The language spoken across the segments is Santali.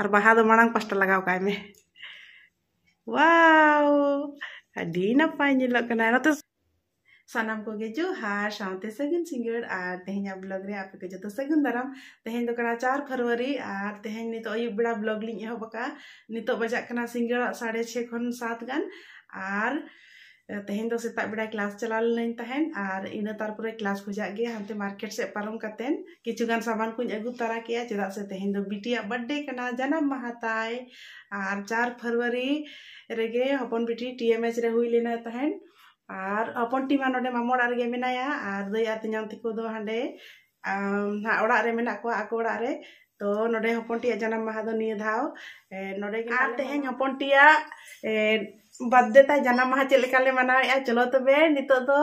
ᱟᱨ ᱵᱟᱦᱟ ᱫᱚ ᱢᱟᱲᱟᱝ ᱯᱟᱥᱴᱟ ᱞᱟᱜᱟᱣ ᱠᱟᱭ ᱢᱮ ᱣᱟᱣ ᱟᱹᱰᱤ ᱱᱟᱯᱟᱭ ᱧᱮᱞᱚᱜ ᱠᱟᱱᱟ ᱱᱚᱛᱮ ᱥᱟᱱᱟᱢ ᱠᱚᱜᱮ ᱡᱚᱦᱟᱨ ᱥᱟᱶᱛᱮ ᱥᱟᱹᱜᱩᱱ ᱥᱤᱸᱜᱟᱹᱲ ᱟᱨ ᱛᱮᱦᱮᱧᱟᱜ ᱵᱞᱚᱜ ᱨᱮ ᱟᱯᱮ ᱠᱚ ᱡᱚᱛᱚ ᱥᱟᱹᱜᱩᱱ ᱫᱟᱨᱟᱢ ᱛᱮᱦᱮᱧ ᱫᱚ ᱠᱟᱱᱟ ᱪᱟᱨ ᱯᱷᱮᱵᱽᱨᱩᱣᱟᱨᱤ ᱟᱨ ᱛᱮᱦᱮᱧ ᱱᱤᱛᱚᱜ ᱟᱹᱭᱩᱵ ᱵᱮᱲᱟ ᱵᱞᱚᱜ ᱞᱤᱧ ᱮᱦᱚᱵ ᱟᱠᱟᱫᱼᱟ ᱱᱤᱛᱚᱜ ᱵᱟᱡᱟᱜ ᱠᱟᱱᱟ ᱥᱤᱸᱜᱟᱹᱲᱟᱜ ᱥᱟᱲᱮ ᱪᱷᱮ ᱠᱷᱚᱱ ᱥᱟᱛ ᱜᱟᱱ ᱟᱨ ᱛᱮᱦᱮᱧ ᱫᱚ ᱥᱮᱛᱟᱜ ᱵᱮᱲᱟ ᱠᱞᱟᱥ ᱪᱟᱞᱟᱣ ᱞᱮᱱᱟᱹᱧ ᱛᱟᱦᱮᱱ ᱟᱨ ᱤᱱᱟᱹ ᱛᱟᱨᱯᱚᱨᱮ ᱠᱞᱟᱥ ᱠᱷᱚᱡᱟᱜ ᱜᱮ ᱦᱟᱱᱛᱮ ᱢᱟᱨᱠᱮᱴ ᱥᱮᱫ ᱯᱟᱨᱚᱢ ᱠᱟᱛᱮᱱ ᱠᱤᱪᱷᱩ ᱜᱟᱱ ᱥᱟᱢᱟᱱ ᱠᱚᱧ ᱟᱹᱜᱩ ᱛᱟᱨᱟ ᱠᱮᱜᱼᱟ ᱪᱮᱫᱟᱜ ᱥᱮ ᱛᱮᱦᱮᱧ ᱫᱚ ᱵᱤᱴᱤᱭᱟᱜ ᱵᱟᱨᱛᱷᱰᱮ ᱠᱟᱱᱟ ᱡᱟᱱᱟᱢ ᱢᱟᱦᱟ ᱛᱟᱭ ᱟᱨ ᱪᱟᱨ ᱯᱷᱮᱵᱽᱨᱩᱣᱟᱨᱤ ᱨᱮᱜᱮ ᱦᱚᱯᱚᱱ ᱵᱤᱴᱤ ᱴᱤ ᱮᱢ ᱮᱪ ᱨᱮ ᱦᱩᱭ ᱞᱮᱱᱟᱭ ᱛᱟᱦᱮᱱ ᱟᱨ ᱦᱚᱯᱚᱱ ᱴᱤ ᱢᱟ ᱱᱚᱰᱮ ᱢᱟᱢᱚ ᱚᱲᱟᱜ ᱨᱮᱜᱮ ᱢᱮᱱᱟᱭᱟ ᱟᱨ ᱫᱟᱹᱭ ᱟᱨ ᱛᱮᱧᱟᱝ ᱛᱟᱠᱚ ᱫᱚ ᱦᱟᱸᱰᱮ ᱱᱟᱦᱟᱜ ᱚᱲᱟᱜ ᱨᱮ ᱢᱮᱱᱟᱜ ᱠᱚᱣᱟ ᱟᱠᱚ ᱚᱲᱟᱜ ᱨᱮ ᱛᱚ ᱱᱚᱰᱮ ᱦᱚᱯᱚᱱ ᱴᱤᱭᱟᱜ ᱡᱟᱱᱟᱢ ᱢᱟᱦᱟ ᱫᱚ ᱱᱤᱭᱟᱹ ᱫᱷᱟᱣ ᱱᱚᱰᱮ ᱜᱮ ᱟᱨ ᱛᱮᱦᱮᱧ ᱦᱚᱯᱚᱱ ᱴᱤᱭᱟᱜ ᱵᱟᱨᱛᱷᱰᱮ ᱛᱟᱭ ᱡᱟᱱᱟᱢ ᱢᱟᱦᱟ ᱪᱮᱫ ᱞᱮᱠᱟ ᱞᱮ ᱢᱟᱱᱟᱣᱮᱜᱼᱟ ᱪᱚᱞᱚ ᱛᱚᱵᱮ ᱱᱤᱛᱚᱜ ᱫᱚ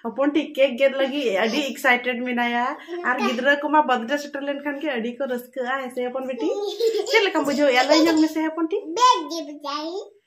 ᱦᱚᱯᱚᱱ ᱴᱤ ᱠᱮᱠ ᱜᱮᱫ ᱞᱟᱹᱜᱤᱫ ᱟᱹᱰᱤ ᱮᱠᱥᱟᱭᱴᱮᱰ ᱢᱮᱱᱟᱭᱟ ᱟᱨ ᱜᱤᱫᱽᱨᱟᱹ ᱠᱚᱢᱟ ᱵᱟᱨᱛᱷᱰᱮ ᱥᱮᱴᱮᱨ ᱞᱮᱱᱠᱷᱟᱱ ᱜᱮ ᱟᱹᱰᱤ ᱠᱚ ᱨᱟᱹᱥᱠᱟᱹᱜᱼᱟ ᱦᱮᱸᱥᱮ ᱦᱚᱯᱚᱱ ᱵᱤᱴᱤ ᱪᱮᱫ ᱞᱮᱠᱟᱢ ᱵᱩᱡᱷᱟᱹᱣᱮᱜᱼᱟ ᱞᱟᱹᱭ ᱧᱚᱜ ᱢᱮᱥᱮ ᱦᱚᱯᱚᱱ ᱴᱤ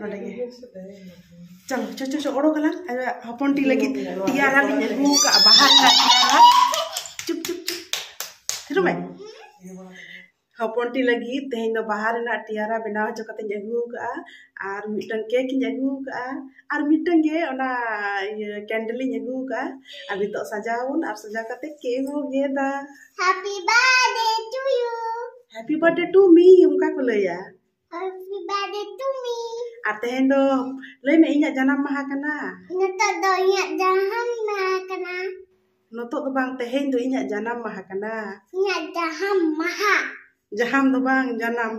ᱱᱚᱰᱮ ᱜᱮ ᱪᱚᱞᱚ ᱪᱚ ᱪᱚ ᱪᱚ ᱚᱰᱚᱠ ᱟᱞᱟᱝ ᱦᱚᱯᱚᱱ ᱴᱤ ᱞᱟᱹᱜᱤᱫ ᱛᱮᱭᱟᱨᱟ ᱞᱤᱧ ᱟᱹᱜᱩ ᱠᱟᱜᱼᱟ ᱵᱟᱦᱟ ᱨᱮᱱᱟᱜ ᱛᱮᱭᱟᱨᱟ ᱪᱩᱯ ᱪᱩᱯ ᱪᱩᱯ ᱛᱷᱤᱨᱩ ᱢᱮ ᱦᱚᱯᱚᱱ ᱴᱤ ᱞᱟᱹᱜᱤᱫ ᱛᱮᱦᱮᱧ ᱫᱚ ᱵᱟᱦᱟ ᱨᱮᱱᱟᱜ ᱛᱮᱭᱟᱨᱟ ᱵᱮᱱᱟᱣ ᱦᱚᱪᱚ ᱠᱟᱛᱮᱧ ᱟᱹᱜᱩ ᱠᱟᱜᱼᱟ ᱟᱨ ᱢᱤᱫᱴᱟᱝ ᱠᱮᱠ ᱤᱧ ᱟᱹᱜᱩ ᱠᱟᱜᱼᱟ ᱟᱨ ᱢᱤᱫᱴᱟᱝ ᱜᱮ ᱚᱱᱟ ᱤᱭᱟᱹ ᱠᱮᱱᱰᱮᱞ ᱤᱧ ᱟᱹᱜᱩ ᱠᱟᱜᱼᱟ ᱟᱨ ᱱᱤᱛᱚᱜ ᱥᱟᱡᱟᱣᱟᱵᱚᱱ ᱟᱨ ᱥᱟᱡᱟᱣ ᱠᱟᱛᱮ ᱠᱮᱠ ᱵᱚ ᱜᱮᱫᱟ happy birthday to you happy birthday to me ᱚᱱᱠᱟ ᱠᱚ ᱞᱟᱹᱭᱟ Happy birthday to me. ᱟᱨ ᱛᱮᱦᱮᱧ ᱫᱚ ᱞᱟᱹᱭ ᱢᱮ ᱤᱧᱟᱹᱜ ᱡᱟᱱᱟᱢ ᱢᱟᱦᱟ ᱠᱟᱱᱟ ᱱᱤᱛᱚᱜ ᱫᱚ ᱤᱧᱟᱹᱜ ᱡᱟᱱᱟᱢ ᱢᱟᱦᱟ ᱠᱟᱱᱟ ᱱᱤᱛᱚᱜ ᱫᱚ ᱵᱟᱝ ᱛᱮᱦᱮᱧ ᱫᱚ ᱤᱧᱟᱹᱜ ᱡᱟᱱᱟᱢ ᱢᱟᱦᱟ ᱠᱟᱱᱟ ᱤᱧᱟᱹᱜ ᱡᱟᱱᱟᱢ ᱢᱟᱦᱟ ᱡᱟᱦᱟᱢ ᱫᱚ ᱵᱟᱝ ᱡᱟᱱᱟᱢ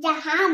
ᱡᱟᱦᱟᱢ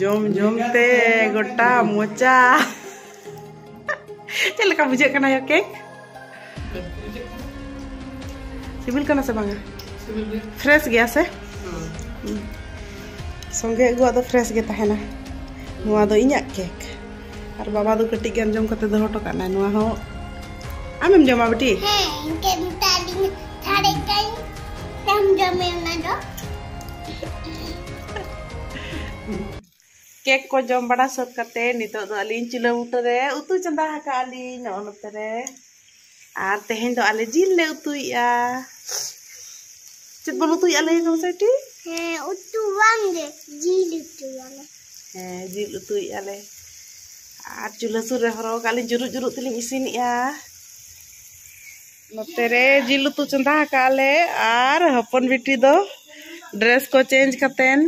ᱡᱚᱢ ᱡᱚᱢ ᱛᱮ ᱜᱚᱴᱟ ᱢᱚᱪᱟ ᱪᱮᱫ ᱞᱮᱠᱟ ᱵᱩᱡᱷᱟᱹᱜ ᱠᱟᱱᱟ ᱭᱟ ᱠᱮᱠ ᱥᱤᱵᱤᱞ ᱠᱟᱱᱟ ᱥᱮ ᱵᱟᱝᱟ ᱯᱷᱨᱮᱥ ᱜᱮᱭᱟ ᱥᱮ ᱥᱚᱸᱜᱮ ᱟᱹᱜᱩᱣᱟᱜ ᱫᱚ ᱯᱷᱨᱮᱥ ᱜᱮ ᱛᱟᱦᱮᱱᱟ ᱱᱚᱣᱟ ᱫᱚ ᱤᱧᱟᱹᱜ ᱠᱮᱠ ᱟᱨ ᱵᱟᱵᱟ ᱫᱚ ᱠᱟᱹᱴᱤᱡ ᱜᱟᱱ ᱡᱚᱢ ᱠᱟᱛᱮ ᱫᱚᱦᱚ ᱦᱚᱴᱚ ᱠᱟᱜ ᱱᱟᱭ ᱱᱚᱣᱟ ᱦᱚᱸ ᱟᱢᱮᱢ ᱡᱚᱢᱟ ᱵᱤᱴᱤ ᱦᱮᱸ ᱤᱱᱠᱟᱹ ᱢᱮᱛᱟᱫᱤᱧ ᱛᱷᱟᱲᱮ ᱠᱟᱹᱧ ᱟᱢ ᱡᱚᱢᱮ ᱚᱱᱟ ᱫᱚ ᱠᱮᱠ ᱠᱚ ᱡᱚᱢ ᱵᱟᱲᱟ ᱥᱟᱹᱛ ᱠᱟᱛᱮ ᱱᱤᱛᱚᱜ ᱫᱚ ᱟᱹᱞᱤᱧ ᱪᱩᱞᱟᱹ ᱵᱩᱴᱟᱹ ᱨᱮ ᱩᱛᱩ ᱪᱚᱸᱫᱟ ᱟᱠᱟᱫ ᱟᱹᱞᱤᱧ ᱱᱚᱜᱼᱚ ᱱᱚᱛᱮ ᱨᱮ ᱟᱨ ᱛᱮᱦᱮᱧ ᱫᱚ ᱟᱞᱮ ᱡᱤᱞ ᱞᱮ ᱩᱛᱩᱭᱮᱜᱼᱟ ᱪᱮᱫ ᱵᱚᱱ ᱩᱛᱩᱭᱮᱜᱼᱟ ᱞᱟᱹᱭ ᱢᱮ ᱥᱮᱴᱤ ᱦᱮᱸ ᱩᱛᱩ ᱵᱟᱝ ᱜᱮ ᱡᱤᱞ ᱩᱛᱩᱭᱟᱞᱮ ᱦᱮᱸ ᱡᱤᱞ ᱩᱛᱩᱭᱮᱜᱼᱟ ᱞᱮ ᱟᱨ ᱪᱩᱞᱦᱟᱹ ᱥᱩᱨ ᱨᱮ ᱦᱚᱨᱚᱜ ᱠᱟᱜ ᱞᱤᱧ ᱡᱩᱨᱩᱜ ᱡᱩᱨᱩᱜ ᱛᱮᱞᱤᱧ ᱤᱥᱤᱱᱮᱜᱼᱟ ᱱᱚᱛᱮ ᱨᱮ ᱡᱤᱞ ᱩᱛᱩ ᱪᱚᱸᱫᱟ ᱟᱠᱟᱜ ᱞᱮ ᱟᱨ ᱦᱚᱯᱚᱱ ᱵᱤᱴᱤ ᱫᱚ ᱰᱨᱮᱥ ᱠᱚ ᱪᱮᱧᱡᱽ ᱠᱟᱛᱮᱱ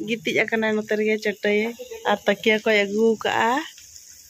ᱜᱤᱛᱤᱡ ᱟᱠᱟᱱᱟᱭ ᱱᱚᱛᱮ ᱨᱮᱜᱮ ᱪᱟᱹᱴᱟᱹᱭ ᱟᱨ ᱛᱟᱹᱠᱤᱭᱟᱹ ᱠᱚᱭ ᱟᱹᱜᱩ ᱟᱠᱟᱜᱼᱟ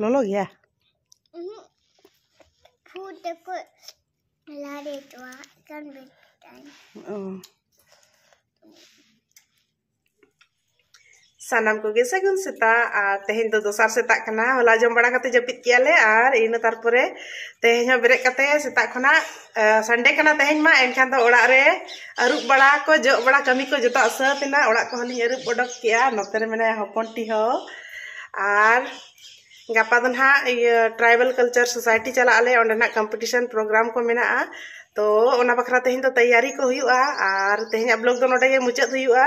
ᱞᱚᱞᱚ ᱜᱮᱭᱟ ᱯᱷᱩᱴ ᱛᱮᱠᱚ ᱞᱟᱲᱮ ᱠᱚᱣᱟ ᱮᱠᱟᱱ ᱵᱮᱴᱟᱭ ᱚ ᱥᱟᱱᱟᱢ ᱠᱚᱜᱮ ᱥᱟᱹᱜᱩᱱ ᱥᱮᱛᱟᱜ ᱟᱨ ᱛᱮᱦᱮᱧ ᱫᱚ ᱫᱚᱥᱟᱨ ᱥᱮᱛᱟᱜ ᱠᱟᱱᱟ ᱦᱚᱞᱟ ᱡᱚᱢ ᱵᱟᱲᱟ ᱠᱟᱛᱮ ᱡᱟᱹᱯᱤᱫ ᱠᱮᱜᱼᱟ ᱞᱮ ᱟᱨ ᱤᱱᱟᱹ ᱛᱟᱨᱯᱚᱨᱮ ᱛᱮᱦᱮᱧ ᱦᱚᱸ ᱵᱮᱨᱮᱫ ᱠᱟᱛᱮ ᱥᱮᱛᱟᱜ ᱠᱷᱚᱱᱟᱜ ᱥᱟᱱᱰᱮ ᱠᱟᱱᱟ ᱛᱮᱦᱮᱧ ᱢᱟ ᱮᱱᱠᱷᱟᱱ ᱫᱚ ᱚᱲᱟᱜ ᱨᱮ ᱟᱹᱨᱩᱵ ᱵᱟᱲᱟ ᱠᱚ ᱡᱚᱜ ᱵᱟᱲᱟ ᱠᱟᱹᱢᱤ ᱠᱚ ᱡᱚᱛᱚᱣᱟᱜ ᱥᱟᱹᱛ ᱮᱱᱟ ᱚᱲᱟᱜ ᱠᱚᱦᱚᱸ ᱞᱤᱧ ᱟᱹᱨᱩᱵ ᱚᱰᱚᱠ ᱠᱮᱜᱼᱟ ᱱᱚᱛᱮ ᱨᱮ ᱢᱮᱱᱟᱭᱟ ᱦᱚᱯᱚᱱ ᱴᱤ ᱦᱚᱸ ᱟᱨ ᱜᱟᱯᱟ ᱫᱚ ᱱᱟᱦᱟᱜ ᱤᱭᱟᱹ ᱴᱨᱟᱭᱵᱮᱞ ᱠᱟᱞᱪᱟᱨ ᱥᱳᱥᱟᱭᱴᱤ ᱪᱟᱞᱟᱜ ᱟᱞᱮ ᱚᱸᱰᱮᱱᱟᱜ ᱠᱚᱢᱯᱤᱴᱤᱥᱚᱱ ᱯᱨᱳᱜᱨᱟᱢ ᱠᱚ ᱢᱮᱱᱟᱜᱼᱟ ᱛᱚ ᱚᱱᱟ ᱵᱟᱠᱷᱨᱟ ᱛᱮᱦᱮᱧ ᱫᱚ ᱛᱮᱭᱟᱨᱤ ᱠᱚ ᱦᱩᱭᱩᱜᱼᱟ ᱟᱨ ᱛᱮᱦᱮᱧᱟᱜ ᱵᱞᱚᱜᱽ ᱫᱚ ᱱᱚᱰᱮ ᱜᱮ ᱢᱩᱪᱟᱹᱫ ᱦᱩᱭᱩᱜᱼᱟ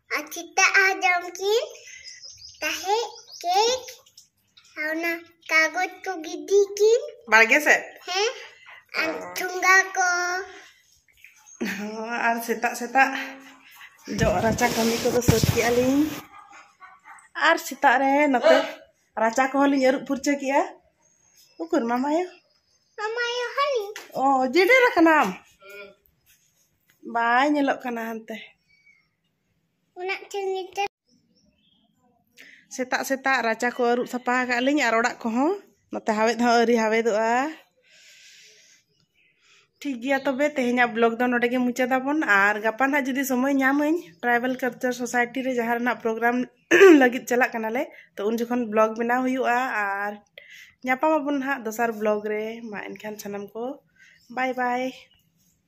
ᱟᱨ ᱪᱮᱛᱟ ᱟᱨ ᱡᱚᱢ ᱠᱤᱱ ᱛᱟᱦᱮᱸ ᱠᱮᱠ ᱟᱨ ᱚᱱᱟ ᱠᱟᱜᱚᱡᱽ ᱠᱚ ᱜᱤᱰᱤ ᱠᱤᱱ ᱵᱟᱲᱜᱮ ᱥᱮᱫ ᱦᱮᱸ ᱟᱨ ᱴᱷᱩᱝᱜᱟ ᱠᱚ ᱦᱚᱸ ᱟᱨ ᱥᱮᱛᱟᱜ ᱥᱮᱛᱟᱜ ᱡᱚᱜ ᱨᱟᱪᱟ ᱠᱟᱹᱢᱤ ᱠᱚᱫᱚ ᱥᱟᱹᱛ ᱠᱮᱜᱼᱟ ᱞᱤᱧ ᱟᱨ ᱥᱮᱛᱟᱜ ᱨᱮ ᱱᱚᱛᱮ ᱨᱟᱪᱟ ᱠᱚᱦᱚᱸ ᱞᱤᱧ ᱟᱹᱨᱩᱵ ᱯᱷᱩᱨᱪᱟᱹ ᱠᱮᱜᱼᱟ ᱩᱠᱩᱨ ᱢᱟᱢᱟᱭᱳ ᱢᱟᱢᱟᱭᱳ ᱦᱟᱹᱱᱤ ᱚ ᱡᱮᱰᱮᱨ ᱟᱠᱟᱱᱟᱢ ᱵᱟᱭ ᱧᱮᱞᱚᱜ ᱠᱟᱱᱟ ᱦᱟᱱᱛᱮ ᱥᱮᱛᱟᱜ ᱥᱮᱛᱟᱜ ᱨᱟᱪᱟ ᱠᱚ ᱟᱹᱨᱩᱵ ᱥᱟᱯᱷᱟ ᱟᱠᱟᱫ ᱞᱤᱧ ᱟᱨ ᱚᱲᱟᱜ ᱠᱚᱦᱚᱸ ᱱᱚᱛᱮ ᱦᱟᱣᱮᱫ ᱦᱚᱸ ᱟᱹᱣᱨᱤ ᱦᱟᱣᱮᱫᱚᱜᱼᱟ ᱴᱷᱤᱠ ᱜᱮᱭᱟ ᱛᱚᱵᱮ ᱛᱮᱦᱮᱧᱟᱜ ᱵᱞᱚᱜ ᱫᱚ ᱱᱚᱰᱮ ᱜᱮ ᱢᱩᱪᱟᱹᱫᱟᱵᱚᱱ ᱟᱨ ᱜᱟᱯᱟ ᱱᱟᱜ ᱡᱩᱫᱤ ᱥᱚᱢᱚᱭ ᱧᱟᱢᱟᱹᱧ ᱴᱨᱟᱭᱵᱮᱞ ᱠᱟᱞᱪᱟᱨ ᱥᱳᱥᱟᱭᱴᱤ ᱨᱮ ᱡᱟᱦᱟᱸ ᱨᱮᱱᱟᱜ ᱯᱨᱳᱜᱨᱟᱢ ᱞᱟᱹᱜᱤᱫ ᱪᱟᱞᱟᱜ ᱠᱟᱱᱟᱞᱮ ᱛᱚ ᱩᱱ ᱡᱚᱠᱷᱚᱱ ᱵᱞᱚᱜ ᱵᱮᱱᱟᱣ ᱦᱩᱭᱩᱜᱼᱟ ᱟᱨ ᱧᱟᱯᱟᱢᱟᱵᱚᱱ ᱱᱟᱦᱟᱜ ᱫᱚᱥᱟᱨ ᱵᱞᱚᱜ ᱨᱮ ᱢᱟ ᱮᱱᱠᱷᱟᱱ ᱥᱟᱱᱟᱢ ᱠᱚ ᱵᱟᱭ ᱵᱟᱭ